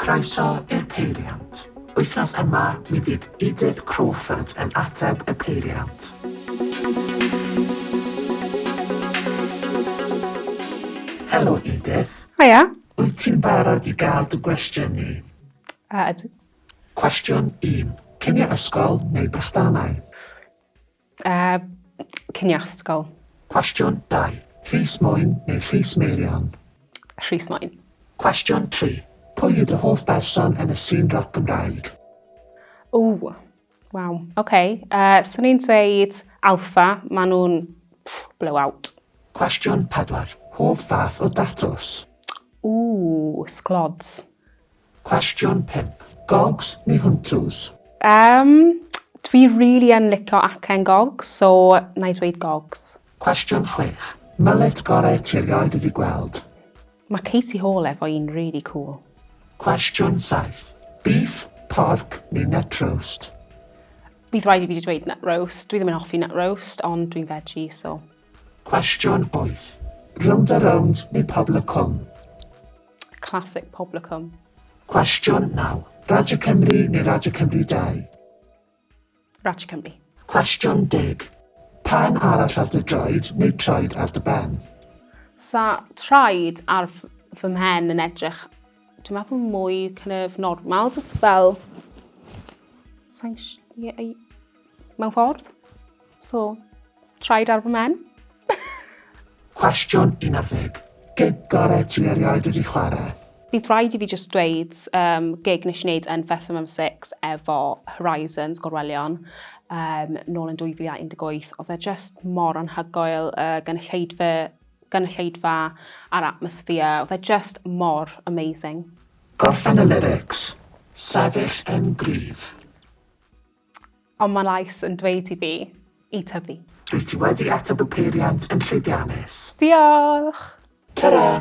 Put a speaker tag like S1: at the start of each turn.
S1: Croeso i'r Peiriant. Wythnos yma, mi fydd Edith Crawford yn ateb y peiriant. Helo Edith. Hiya. Wyt
S2: ti'n barod
S1: i gael dy gwestiynu? A ydw.
S2: Cwestiwn
S1: 1. Cinio ysgol neu brechdanau? A
S2: cinio ysgol. Cwestiwn 2.
S1: Rhys Moen neu Rhys Meirion? Rhys Moen.
S2: Cwestiwn 3.
S1: Pwy yw dy hoff berson yn y sîn roc Gymraeg? Ww,
S2: waw, oce. Okay. Uh, Swn i'n dweud Alpha, maen nhw'n blowout. Cwestiwn
S1: 4. Hoff fath o datws? Ww, sglods.
S2: Cwestiwn
S1: pump, Gogs neu Huntws? Umm,
S2: dwi rili yn licio acen gogs, so na i dweud gogs. Cwestiwn chwech,
S1: Mullet gorau ti erioed wedi gweld? Mae Katie
S2: Hall efo un rili cŵl. Cwestiwn
S1: saith, Beef, porc neu nut roast? Bydd
S2: rhaid i fi dweud nut roast, dwi ddim yn hoffi nut roast, ond dwi'n veggie, so. Cwestiwn
S1: wyth, Rownd a rownd neu Pobl y Cwm?
S2: Classic Poblicum. Cwestiwn
S1: 9. Radio Cymru neu Radio Cymru
S2: 2? Radio Cymru. Cwestiwn 10.
S1: Pen arall ar dy droed neu troed ar dy ben? Sa
S2: traed ar fy mhen yn edrych, dwi'n meddwl mwy kind of normal, just fel... Sa'n... Mewn ffordd. So, traed ar fy men. Cwestiwn
S1: 11. Gyda'r ti erioed wedi chwarae? Bydd rhaid i fi
S2: just dweud um, gig nes i wneud yn Fest Summer 6 efo Horizons Gorwelion um, nôl yn 2018. Oedd e just mor anhygoel, uh, gynulleidfa, gynulleidfa a'r atmosphere. Oedd e just mor amazing. Gorffen y
S1: lyrics, sefyll yn gryf.
S2: Ond mae llais yn dweud i fi i tyfu. Rwyt ti
S1: wedi ateb y peiriant yn llwyddiannus. Diolch! Tara!